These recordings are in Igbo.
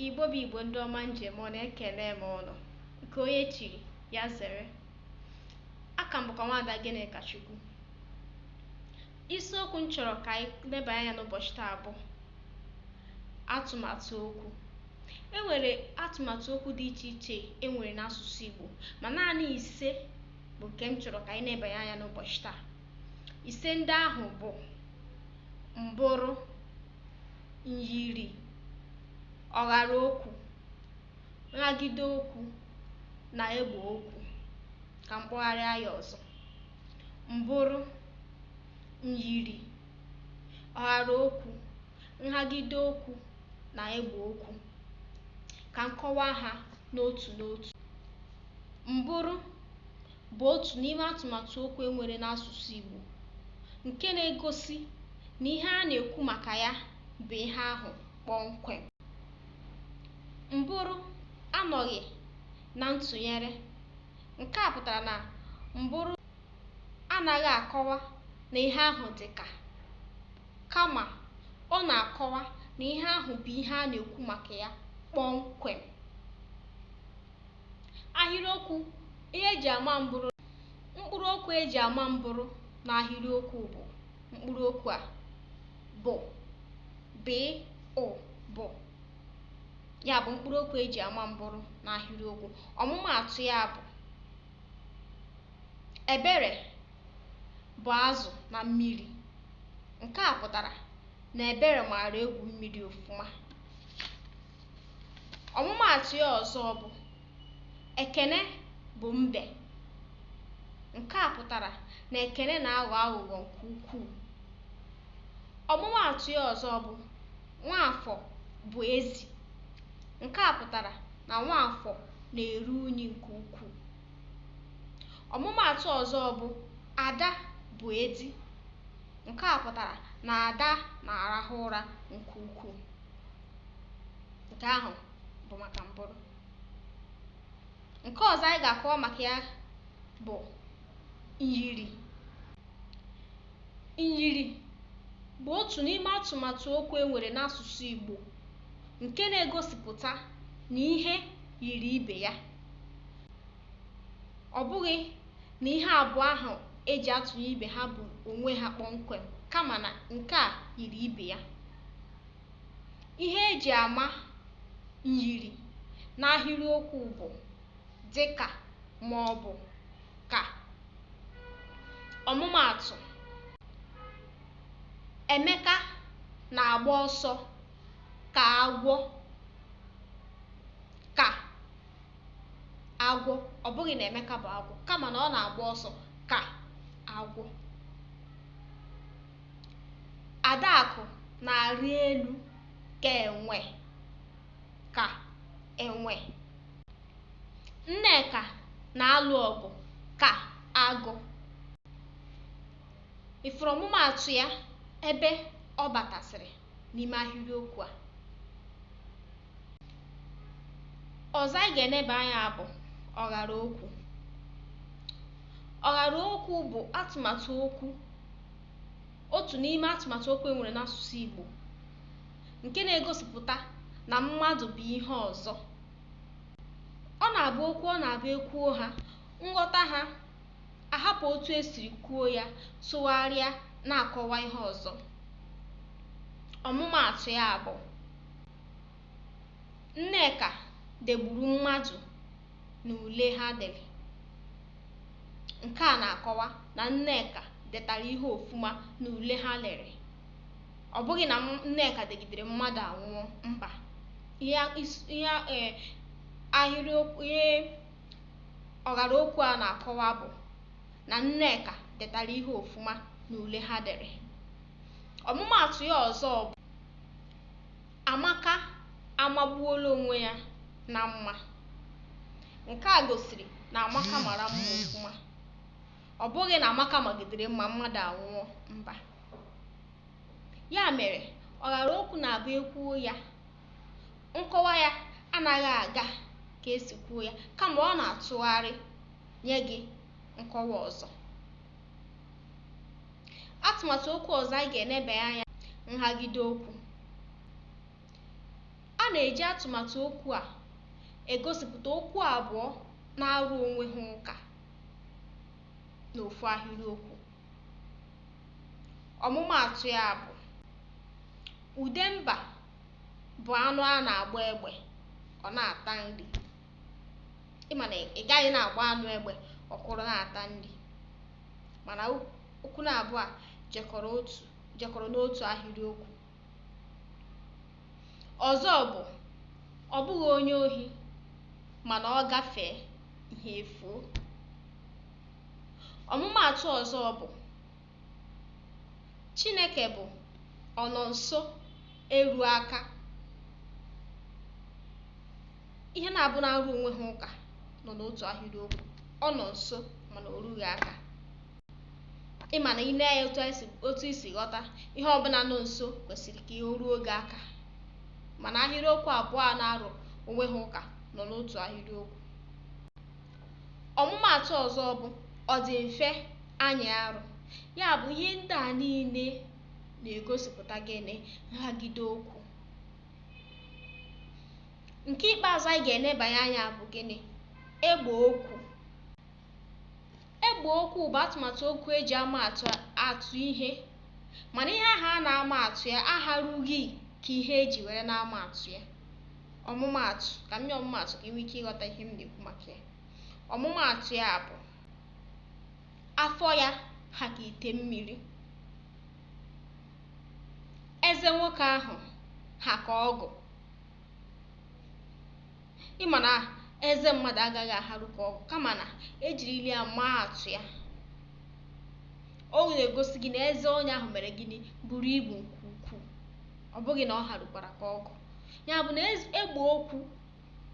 Igbo bụ Igbo ndị ọma m ji eme ọnụ ekelee m ụnụ nke onye chiri ya zere aka m bụkwa nwaada Gịnịkachukwu isiokwu m chọrọ ka anyị leba anya n'ụbọchị taa bụ atụmatụ okwu e nwere atụmatụ okwu dị iche iche e nwere n'asụsụ Igbo ma naanị ise bụ nke m chọrọ ka anyị lebanye anya n'ụbọchị taa ise ndị ahụ bụ mbụrụ myiri, ọghara okwu, nhagide okwu na egbe okwu. Ka m kpọgharịa ya ọzọ. Mbụrụ, myiri, ọghara okwu, nhagide okwu na egbe okwu. Ka m kọwaa ha n'otu n'otu. Mbụrụ bụ otu n'ime atụmatụ okwu e nwere n'asụsụ Igbo nke na-egosi na ihe a na-ekwu maka ya bụ ihe ahụ kpọmkwem. Mbụrụ anọghị na ntụnyere. Nke a pụtara na mbụrụ anaghị akọwa na ihe ahụ dị ka, kama ọ na-akọwa na ihe ahụ bụ ihe a na-ekwu maka ya kpọmkwem. Ahịrịokwu, Ihe e ji ama mbụrụ Mkpụrụokwu e ji ama mbụrụ n'ahịrịokwu bụ mkpụrụokwu a bụ b ụ bụ ya bụ mkpụrụokwu e ji ama mbụrụ n'ahịrịokwu ọmụmaatụ ya bụ Ebere bụ azụ na mmiri nke a pụtara na Ebere maara egwu mmiri ọfụma Ọmụmaatụ ya ọzọ bụ Ekene bụ mbe. Nke a pụtara na Ekene na-aghọ aghụghọ nke ukwuu. Ọmụmaatụ ya ọzọ bụ Nwaafọ bụ ezi. Nke a pụtara na Nwaafọ na-eru unyi nke ukwuu. Ọmụmaatụ ọzọ bụ Ada bụ edi. Nke a pụtara na Ada na-arahụ ụra nke ukwuu. nke ahụ bụ maka mbụrụ nke ọzọ anyị ga-akọwa maka ya bụ myiri myiri bụ otu n'ime atụmatụ okwu e nwere n'asụsụ Igbo nke na-egosipụta na ihe yiri ibe ya ọ bụghị na ihe abụọ ahụ e ji atụnye ibe ha bụ onwe ha kpọmkwem kama na nke a yiri ibe ya Ihe e ji ama myiri n'ahịrịokwu bụ dị ka ma ọ bụ ka. Ọmụmaatụ, Emeka na-agba ọsọ ka agwọ ka agwọ ọ bụghị na Emeka bụ agwọ kama na ọ na-agba ọsọ ka agwọ Adakụ na-arị elu ka enwe ka enwe. Nneka na-alụ ọgụ ka agụ. Ị fụrụ ọmụmaatụ ya ebe ọ batasịrị. n'ime ahịrịokwu a ọzọ anyị ga-eneba anya bụ ọghara okwu ọghara okwu bụ atụmatụ okwu otu n'ime atụmatụ okwu e nwere n'asụsụ Igbo nke na-egosipụta na mmadụ bụ ihe ọzọ ọ na-abụ okwu ọ na-abụ e kwuo ha nghọta ha ahapụ otu e siri kwuo ya tụgharịa na-akọwa ihe ọzọ. Ọmụmaatụ ya bụ Nneka degburu mmadụ n'ule ha dere. Nke a na-akọwa na Nneka detara ihe ọfụma n'ule ha lere. Ọ bụghị na Nneka degidere mmadụ anwụọ, mba. Ihe e, ahịrịokwu ihe Ọghara okwu a na-akọwa bụ na Nneka detara ihe ọfụma n'ule ha dere. Ọmụmaatụ ya ọzọ bụ Amaka amagbuola onwe ya na mma. Nke a gosiri na Amaka mara mma ọfụma. Ọ bụghị na Amaka magidere mma mmadụ anwụọ, mba. Ya mere, ọghara okwu na-abụ e kwuo ya, nkọwa ya anaghị aga ka e si kwuo ya kama ọ na-atụgharị nye gị nkọwa ọzọ atụmatụ okwu ọzọ anyị ga-enebe anya nhagide okwu a na-eji atụmatụ okwu a egosipụta okwu abụọ na-arụ onwe ha ụka n'ofu ahịrịokwu ọmụmaatụ ya bụ Udemba bụ anụ a na-agba egbe ọ na-ata nri ị ma na ị gaghị na-agba anụ egbe ọ kwụrụ na-ata nri mana okwu na abụọ a jekọrọ n'otu ahịrịokwu ọzọ bụ ọ bụghị onye ohi mana ọ gafee ihe efuo Ọmụmaatụ ọzọ bụ, Chineke bụ ọnọ nso eru aka. Ihe naabọ na-arụ onwe ha ụka nọ n'otu ahịrịokwu ọ nọ nso mana o rughị aka ịma na ine anya otu isi ghọta ihe ọbụla nọ nso kwesịrị ka o ruo gị aka mana ahịrịokwu abụọ a na-arụ onwe ha ụka nọ n'otu ahịrịokwu ọmụmaatụ ọzọ bụ ọ dị mfe anyị arụ ya bụ ihe ndị a niile na-egosipụta gịnị nhagide okwu nke ikpeazụ anyị ga-enebanye anya bụ gịnị egbe okwu egbe okwu bụ atụmatụ okwu eji ama atụ ihe mana ihe ahụ a na-ama atụ ya aharughị ka ihe eji were na-ama atụ ya ọmụmaatụ ka m nye ọmụmaatụ ka ị nwee ike ịghọta ihe m na-ekwu maka ya ọmụmaatụ ya bụ afọ ya ha ka ite mmiri eze nwoke ahụ ha ka ọgụ ịma na eze mmadụ agaghị aharu ka ọgụ kama na ejirili ya maa atụ ya ọ na-egosi gị na eze onye ahụ mere gịnị buru ibu nke ukwuu ọ bụghị na ọ harukwara ka ọgụ ya bụ na egbe okwu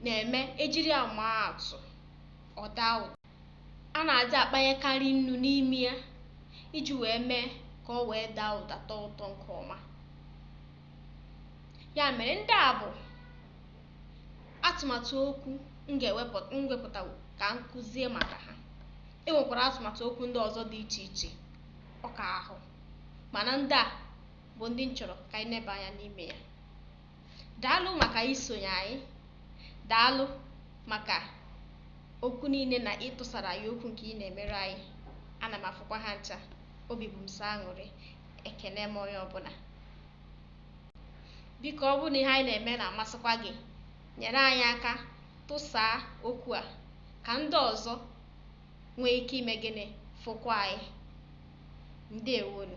na-eme ejiri ya maa atụ ọ daa ụda a na-adị akpanyekarị nnu n'ime ya iji wee mee ka o wee daa ụda tọọ ụtọ nke ọma ya mere ndị a bụ atụmatụ okwu m ga-ewepụta ka m kuzie maka ha e nwekwara atụmatụ okwu ndị ọzọ dị iche iche ọka ahụ mana ndị a bụ ndị m chọrọ ka anyị neba anya n'ime ya daalụ maka isonye anyị daalụ maka okwu niile na ịtụsara anyị okwu nke ị na-emere anyị ana m afụkwa ha ncha obi bụ m sọ aṅụrị ekene m onye ọbụla biko ọ bụrụ na ihe anyị na-eme na-amasịkwa gị nyere anyị aka tụsaa okwu a ka ndị ọzọ nwee ike ime gịnị fụkwa anyị ndewonụ